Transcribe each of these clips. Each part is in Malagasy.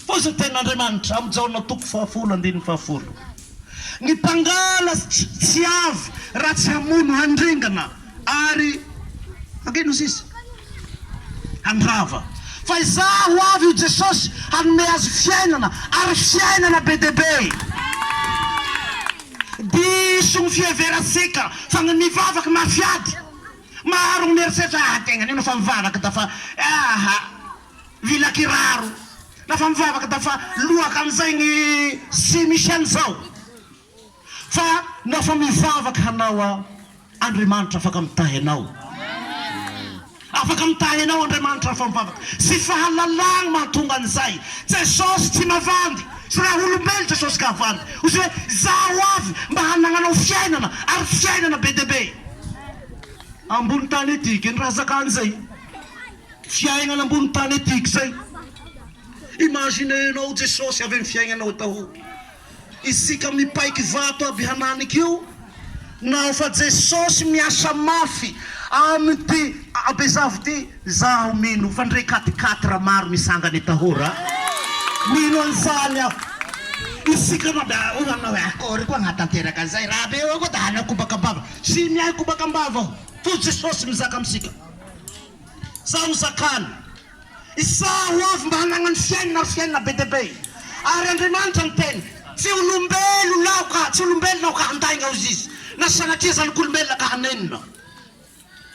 Fa izao dia an'Andriamanitra, amin'ny Jaona toko fahafolo andininy fahafolo, ny mpangala tsy avy raha tsy hamono, handringana ary hankeno sisa, handrava. Fa izaho ho avy, hoy Jesosy, hanome azy fiainana, ary fiainana be dia be. Diso ny fiheverantsika fa ny mivavaka mafy ady. Maro ny mieritreritra, ah, tegna anio no efa mivavaka da fa, ah, ah. Mila kiraro rehefa mivavaka da fa lohaka an'izay ny Sy misy an'izao fa na fa mivavaka hanao a Andriamanitra afaka mitahy anao Afaka mitahy anao Andriamanitra rehefa mivavaka Sy fahalalagny mahatonga an'izay Jesosy tsy mavandy Sy raha olombelo Jesosy ka havandy Ho izay hoe zaho avy mba hanagnanao fiainana Ary fiainana be dia be Ambony tany ity Ke ny raha zakan'izay. Fiainana ambony tany etika izay. Imaginez-nao Jesosy avy amin'ny fiainanao daholo. Isika mipaika vato aby hananika io, naho fa Jesosy miasa mafy amin'ity abezavo ity, izaho mino fa ndre quatre quatre maro misangana etahory a! Mino an'izany aho. Isika moa dia hoy ianao hoe akory koa hanatanteraka an'izay? Raha be eo koa dia hanao kobaka am-bava. Tsy miahy kobaka am-bava aho, toa Jesosy mizaka amintsika. Izaho no zakany, Izaho ho avy mba hanagna ny fiainana ary fiainana be dia be, ary Andriamanitra ny Teniko. Tsy olombelona Aho ka, tsy olombelona Aho ka handainga hozy izy, na sanatria zanak'olombelona ka hanenina.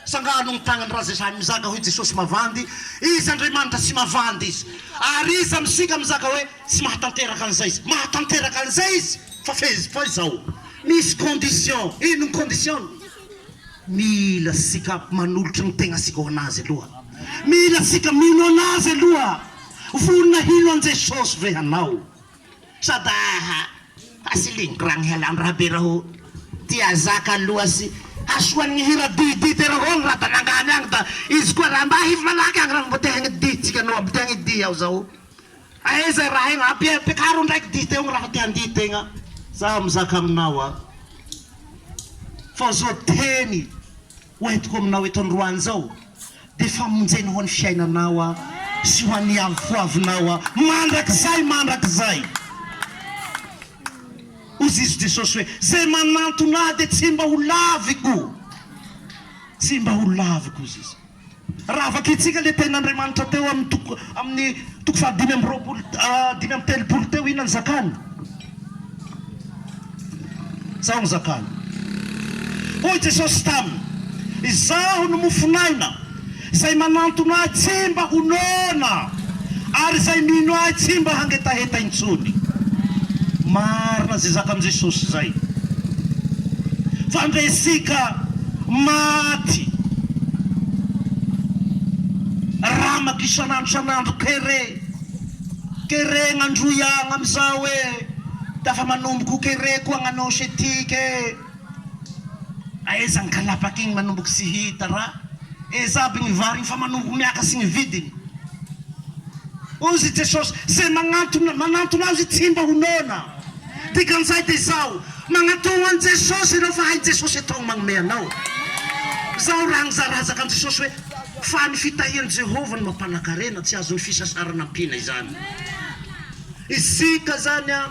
Sangano ny tagnany raha izay sahy mizaka hoe Jesosy mavandy Izy, Andriamanitra tsy mavandy Izy. Ary iza amintsika mizaka hoe tsy mahatanteraka an'izay Izy? Mahatanteraka an'izay Izy, fa fe, fa izao, misy condition. Inona ny condition-ny? Mila sika manolotra ny tegna sika ho anazy aloha mila sika mino anazy aloha vonona hino an Jesosy ve hanao sa da ha hasiligno ragny hialan rabe raho ty azaka aloha sy hasoan ny hira dihy dihy tena ho agny raha da nangany agny da izy koa raha mba hivo malaky agny raha mbo te hagnodidy tsika no mbo te hagnodidy aho zao. Aiza raha aina abe ampiakaro ndraiky dihy tegna raha te handihy tegna zaho mizaka aminao a fa zao teny ho entiko aminao eto androany zao de famonjena ho an'ny fiainanao a sy ho an'ny avoavinao a mandrakizay mandrakizay hozy izy Jesosy hoe zay manantona ahy de tsy mba ho laviko tsy mba ho laviko hozy izy. Raha vakintsika ilay tenin'Andriamanitra teo amin'ny toko amin'ny toko faha dimy amby roapolo dimy amby telopolo teo, inona no zakany? Izao no zakany. Hoy Jesosy taminy, Izaho no mofon'aina, izay manantona ahy tsy mba ho noana. Ary izay mino ahy tsy mba hangetaheta intsony. Marina izay zakan'i Jesosy izay. Fa ndre isika maty ramaka isan'andro isan'andro kere kerena ndroy agn amizao e! Dafa manomboka ho kere koa agn anôsy etika e! Aiza ny kalabaky iny manomboky tsy hita ra eza aby ny vary iny fa manomboky miaka sy ny vidiny ozy jesosy ze magnantona manantona azy tsy mba ho noana dikan'izay de zao magnatogno any jesosy ireo fa hay jesosy atao ny magnome anao zao ra niza razaka any jesosy hoe fa ny fitahian'i jehovah no mampanakarena tsy azon'ny fisasarana ampiana izany isika zany an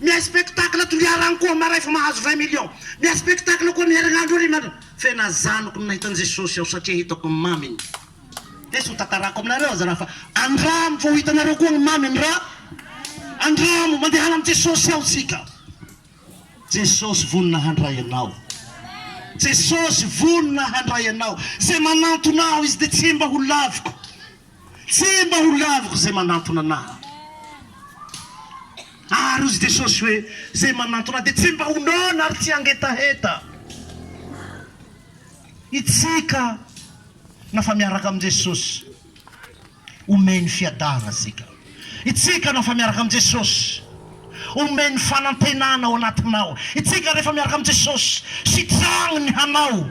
Mihaino spectacle Toliara koa maray fa mahazo vingt millions. Mihaino spectacle koa ny herinandro ary ianareo. Fenazanoko ny nahita ny Jesosy aho satria hitako ny maminy. Dia tsy ho tantarako aminareo aza raha fa andramo fa ho hitanareo koa ny maminy ra. Andramo, mandehana amin'i Jesosy ao tsika. Jesosy vonona handray anao. Jesosy vonona handray anao. Izay manantona aho izy dia tsy mba ho laviko. Tsy mba ho laviko izay manantona anah. Ary hoy Jesosy hoe, Izay manantona ahy dia tsy mba ho noana ary tsy hangetaheta. Isika na fa miaraka amin'i Jesosy, omeny fiadanana isika. Isika na fa miaraka amin'i Jesosy, omeny fanantenana ao anatinao. Isika rehefa miaraka amin'i Jesosy, sitragny ny hanao.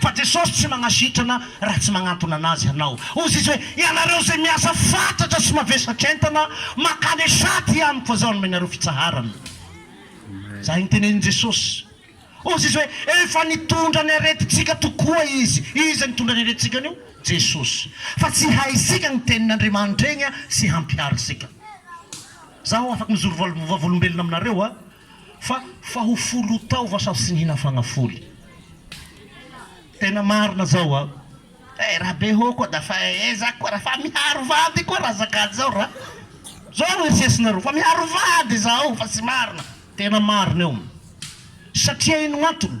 Fa Jesosy tsy magnasitrana raha tsy magnantona anazy hanao. Hozy izy hoe, Ianareo izay miasa fatratra sy mavesatr-entana, mankany esa aty amiko fa zaho hanome anareo fitsaharana. Izay nitenenin'i Jesosy. Hozy izy hoe, Efa nitondra ny aretintsika tokoa izy. Iza nitondra ny aretintsika anio? Jesosy. Fa tsy haisika ny tenin'Andriamanitra egny sy hampihary isika. Zaho afaky mizoro vavolombelona aminareo a. Fa fa ho foly ho taova sao tsy nihina fagnafoly tena marina zao a eh ra be hoo koa da fa eh za koa ra fa miharo vady koa ra azakady zao ra zao ro erisesinareo fa miharo vady zaho fa tsy marina tena marina io satria ino gn'antony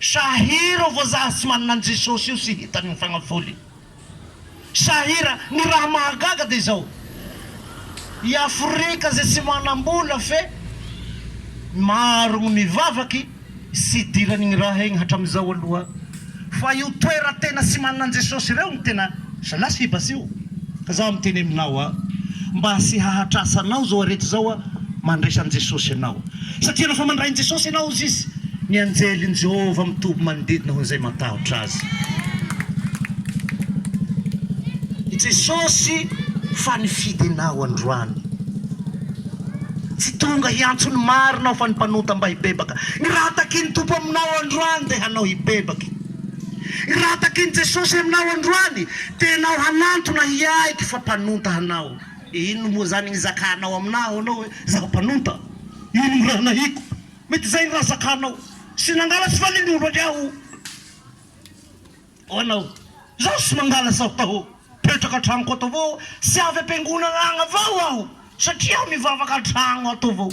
Sahira vazaha tsy manana an'i Jesosy io sy hitany ny fagnafoliny. Sahira, ny raha mahagaga dia izao, i Afrika izay tsy manam-bola fe maro ny mivavaky tsy idirany igny raha igny hatramin'izao aloha fa io toera tena tsy manana an'i Jesosy ireo no tena Zalahy sy Baseo ka zaho miteny aminao a! Mba asy hahatrasa anao zao arety zao a! Mandraisan'i Jesosy anao satria rehefa mandrain'i Jesosy anao ozy izy, ny anjelin'i Jehovah mitoby manodidina hoan'izay matahotra azy. I Jesosy fa nifidy anao androany. Tsy tonga hiantso ny marina aho fa ny mpanota mba hibebaka. Ny raha takian'ny Tompo aminao androany dia hanao hibebaky. Raha takin'i Jesosy aminao androany, dia enao hanantona hiaiky fa mpanonta hanao. Inona moa izany ny zakanao aminà ho anao hoe, Izaho mpanonta? Inona ny raha nahiko? Mety izay ny raha zakanao. Tsy nangala tsy valian'ny olo anie aho. Ho anao, Izaho tsy mangala sao taho. Petraka an-tranoko ato avao aho. Tsy avy am-piangonana agny avao aho, satria aho mivavaka an-tragno ato avao.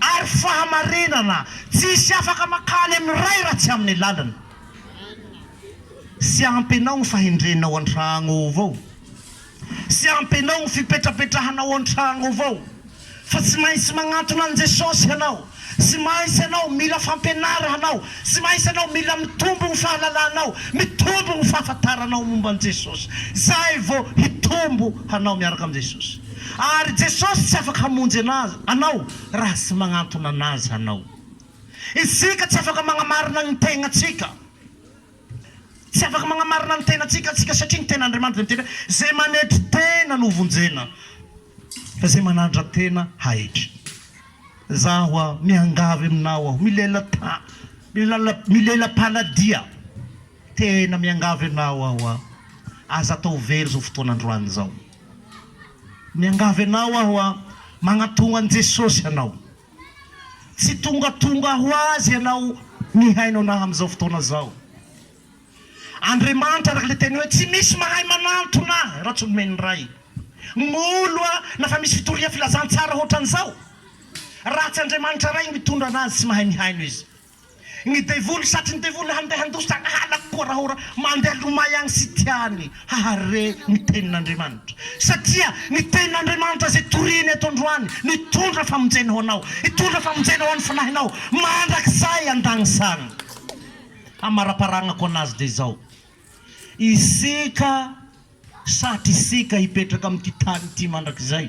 ary fahamarinana tsisy afaka makany amin'ny Ray raha tsy amin'ny alalany. Sy ampy anao ny fahendrenao antragno ao avao, sy ampy anao ny fipetrapetrahanao antragno ao avao, fa tsy maintsy magnantona an'i Jesosy hanao, sy maintsy anao mila fampianara hanao, sy maintsy anao mila mitombo ny fahalalanao, mitombo ny fahafataranao momba an'i Jesosy, zay vao hitombo hanao miaraka amin'i Jesosy. Ary Jesosy tsy afaka hamonjy anazy, anao, raha tsy magnantona anazy hanao. Isika tsy afaka magnamarina gny tegnatsika. Tsy afaka magnamarina gny tegnatsika tsika satria gny tegn'Andriamanitra dia miteny hoe, Ze manetry tena no vonjena, fa ze manandra tena haetry. Zaho hoa miangavy aminao aho, milela-ta, milala, milela-panadia, tena miangavy anao aho hoa, aza atao very zao fotoana androany zao. Miangavy anao aho an! Magnatogno an'i Jesosy anao. Tsy tongatonga ho Azy ianao mihaino anah amin'izao fotoana zao. Andriamanitra araka le teny hoe tsy misy mahay manantona ahy raha tsy nomen'ny Ray. Molo an! Na fa misy fitorian-filazantsara hotran'izao? Raha tsy Andriamanitra Ray mitondra anazy tsy mahay mihaino izy. Ny devoly satry ny devoly handeha handositra any halako koa rahora mandeha lomay any sy tiany hahare ny tenin'Andriamanitra satria ny tenin'Andriamanitra izay toriany eto androany no hitondra famonjena ho anao hitondra famonjena ho an'ny fanahinao mandrakizay andagnisany hamaraparagnako anazy dia izao isika satry isika hipetraka amin'ity tany ity mandrakizay.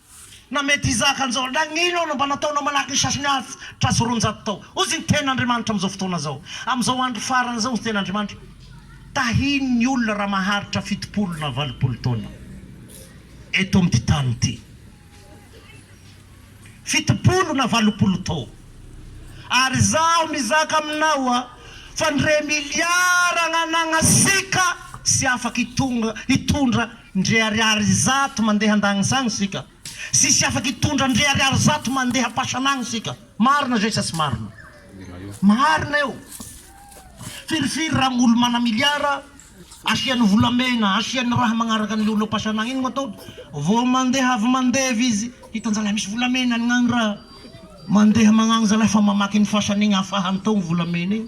Na mety hizaka an'izao, nagnino aho no mba nataonao manahaky ny sasany hafa tra sy roanjato tao? Hozy ny tena Andriamanitra amin'izao fotoana izao, amin'izao andro farany izao, hozy ny tena Andriamanitra, Tahiny ny olona raha maharitra fitopolo na valopolo taona eto amin'ity tany ity. Fitopolo na valopolo taona. Ary izaho mizaka aminao fa ny remiliara agnanagna sika tsy afaka hitondra Ndry ariary zato mandeha andagnisany isika. Tsisy afaka hitondra ndry ariary zato mandeha ampasana agny isika. Marina zay sa tsy marina? Marina io. Firifiry raha olo mana miliara asiany volamena, asiany raha magnaraka anle olo ampasana agny, ino no ataony? Vao mandeha avy mandevy izy hitanjalahy misy volamena agny raha. Mandeha magnagny zalahy fa mamaky ny fasana igny afahany tao ny volamena igny.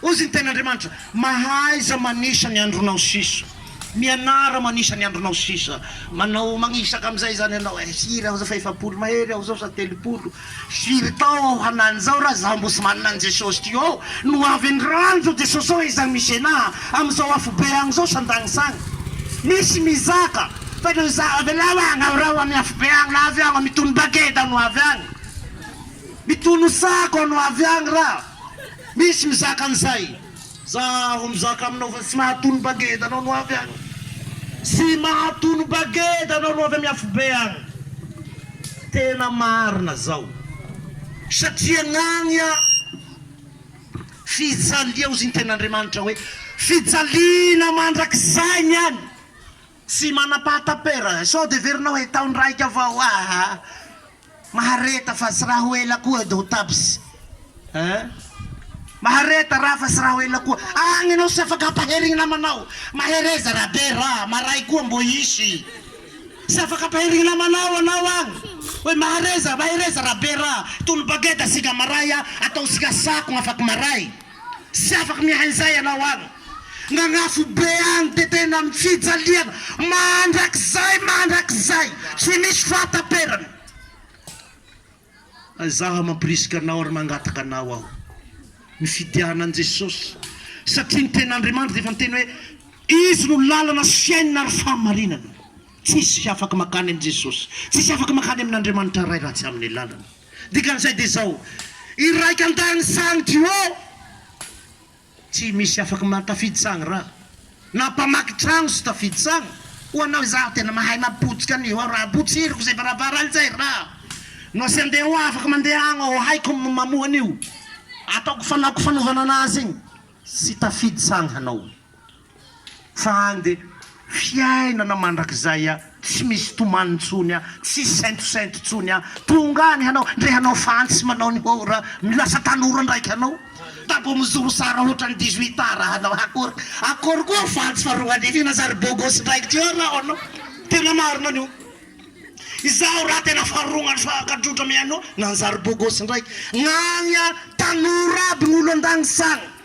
Hozy ny Tenin'Andriamanitra, Mahaiza manisa ny andronao sisa, mianara manisa ny andronao sisa, manao magnisaka amin'izay izany ianao e, firy aho zao fa efapolo mahery aho zao sa telopolo, firy tao aho hanany zao ra za mbo sy manana an'i Jesosy ty ô, no avy ny ranjo Jesosy ô izany misy enà amin'izao afobe agny zao sandagnisagny misy mizaka fa no za avelao agny aho reo amin'ny afobe agny no avy agny mitono bageda no avy agny mitono sako no avy agny ra. Misy mizaka an'izay. Za aho mizaka aminao fa tsy mahatono bageda anao no avy agny. Tsy mahatono bageda anao no avy amy afobe agny. Tena marina zao. Satria gn'agny a, fijalia ozy ny tenin'Andriamanitra hoe fijaliana mandrakizay ny any. Tsy manam-pahatapera. Sao de heverinao hoe taon-draika avao. Aa. Mahareta fa tsy raha ho ela koa edy ho tabs eh Mahareta raha fa tsy raha ho ela koa agny enao tsy afaka ampaherigny namanao Mahereza raha be raha maray koa mbô hisy tsy afaka ampaherigny namanao anao agny Oy Mahareza Mahereza raha be raha Tony bageda sika maray a ataontsika sakogna afaky maray Tsy afaka miahy izay ianao any. Nagnafo be any dia tena amin'ny fijaliana mandrakizay mandrakizay, tsy misy fahataperany. Izaho mampirisika anao ary mangataka anao aho, mifidiana an'i Jesosy, satria ny Tenin'Andriamanitra dia efa niteny hoe, Izy no lalana sy fiainana ary fahamarinana. Tsisy afaka makany amin'i Jesosy, tsisy afaka makany amin'Andriamanitra Ray raha tsy amin'ny lalany. Dikan'izay dia izao, Iraika an-tany sang duo, tsy misy afaka man tafidy sang ra, na mpamaky tragno tsy tafidy sang. Ho anao izaho tena mahay mapotika an'io aho ra, potsiriko izay varavarana izay ra, no asia andeha ho afaka mandeha agny aho, haiko ny mamoha an'io, ataoko fanaoko fanovana anazy igny, tsy tafidy sang hanao. Fa ande fiainana mandrakizay a, tsy misy tomany ntsony a, tsisy saintosento ntsony a, tonga any hanao ndre hanao fantsy manao ny hora milasa tanora ndraiky hanao da mbo mizoro sara hotrany dix huit ans hanao akory akory koa fantsy fa roa arivo iny aza ry bogosy ndraiky ty eo raho anao tena marina ny io izaho raha tena faharognany fahagadrodra mihaino nanjary bogosy ndraiky gnagny a tanora aby gnolo andagny sagny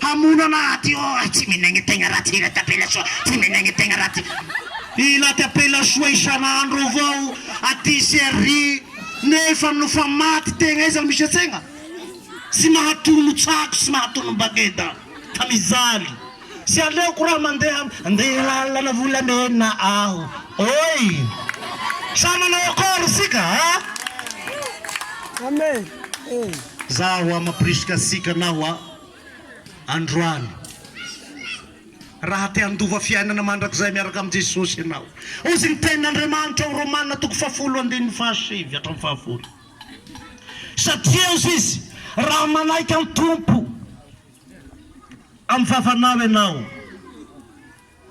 Hamono anah aty io aho tsy menegny tegna raha tsy ilata pela soa tsy menegny tegna raha tsy. Ilata pela soa isan'andro avao aty sy ary nefa no fa maty tegna aiza no misy antsegna tsy mahatono tsako tsy mahatono bageda fa mijaly tsy aleoko raha mandeha andeha lalana volamena aho oi sa manao akory tsika a. Amen. Za hoa mampirisika asika na hoa androany. Raha te handova fiainana mandrakizay miaraka amin'i Jesosy ianao, hozy ny tenin'Andriamanitra ao Romana toko fahafolo andininy fahasivy hatramin'ny fahafolo. Satria hozy izy, raha manaiky an'i Tompo amin'ny vavanao ianao,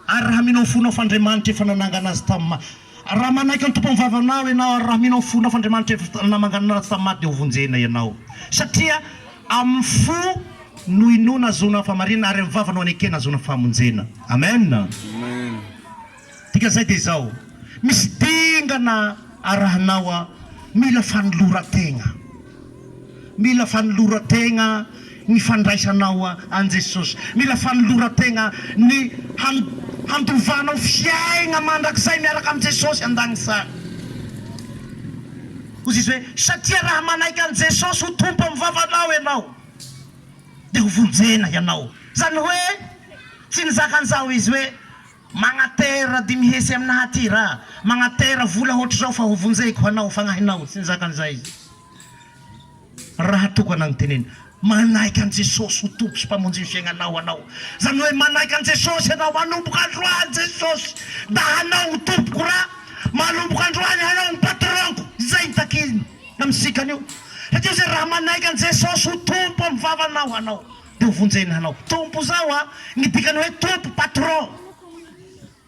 Ary raha mino amin'ny fonao f'Andriamanitra efa nanangana azy tamin'ny maty, raha manaiky ny Tompo amin'ny vavanao ianao, ary raha mino amin'ny fonao f'Andriamanitra efa namangana azy tamin'ny maty, dia hovonjena ianao. Satria amin'ny fo no inoana ahazoana ny fahamarinana, ary amin'ny vava no anekena ahazoana ny famonjena. Amen. Dikan'izay dia izao, misy dingana arahinao aho, mila fanoloran-tegna. Mila fanoloran-tegna ny fandraisanao an'i Jesosy. Mila fanoloran-tegna ny handovanao fiaigna mandrakizay miaraka amin'i Jesosy an-dagnitsany. Hozizy hoe, Satria raha manaiky an'i Jesosy ho Tompo amin'ny vavanao ianao, dia ho vonjena ianao. Izany hoe, tsy nizaka an'izao izy hoe, Magnatera dimy hese aminaha aty ra, magnatera vola hoatr'izao fa hovonjeko ho anao fagnahinao. Tsy nizaka an'izay izy. Raha toa ka nanontenen. Manaiky an'i Jesosy ho Tompo sy Mpamonjy ny fiaignanao anao. Izany hoe manaiky an'i Jesosy ianao manomboka androany Jesosy da hanao ho Tompoko ra manomboka androany hanao ho Patron-ko. Izay ny takiny amintsika anio. Satria izay raha manaiky an'i Jesosy ho Tompo amin'ny vavanao hanao dia ho vonjeny hanao. Tompo izao a, ny dikany hoe Tompo, Patron.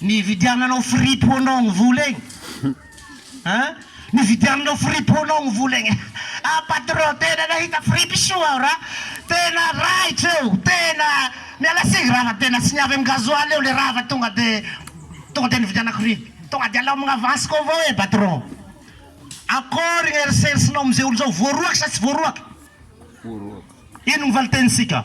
Nividiananao fripy ho anao ny vola egny a! Nividiananao fripy ho anao ny vola egny a! Patron tena nahita fripy soa aho ra! Tena raitra eo! Tena miala tsiny ra fa tena tsy niavy amin'ny gasoil eo le ra fa tonga de tonga de nividianako fripy! Tonga de alaomagna avance-ko avao ee patron! Akôry ny eritseritsinao amin'izay olo zao? Voaroaka sa tsy voaroaka? Voaroaka. Ino ny valin-tenintsika?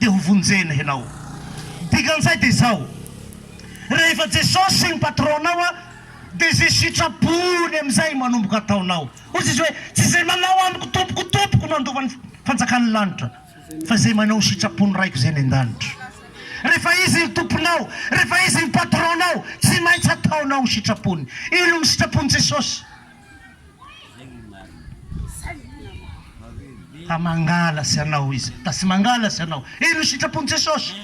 Dia ho vonjena ianao. Dikan'izay dia izao, rehefa Jesosy ny patronao dia izay sitrapony amin'izay manomboka ataonao. Hoy Jesosy hoe, Tsy izay manao amiko Tompoko, Tompoko no handova ny fanjakan'ny lanitra, fa izay manao ny sitrapon'ny Raiko izay any an-danitra. Rehefa Izy no Tomponao, rehefa Izy no patronao, tsy maintsy ataonao ny sitrapony. Inona no sitrapon'i Jesosy? Ka mangala sy anao izy da sy mangala sy anao Eny ho sitrapon'i Jesosy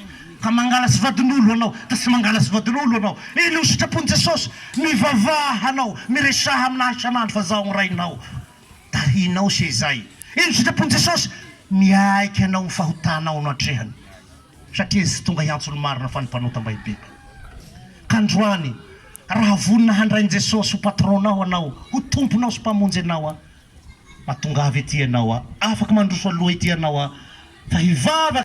Ka mangala sy vadin'olo anao da sy mangala sy vadin'olo anao Eny ho sitrapon'i Jesosy Mivavaha hanao Miresaha amin'ahy isan'andro fa zaho ny Rainao Da hinao sy izay Eny ho sitrapon'i Jesosy Miaiky anao ny fahotanao no atrehany Satria izy tonga hiantso ny marina fa ny mpanota mba hibepa. Ka androany, raha vonona handray an'i Jesosy ho patron-nao anao, ho tomponao sy mpamonjy anao an, mba tongava ety ianao an, afaka mandroso aloha ety ianao an, fa hivavaka.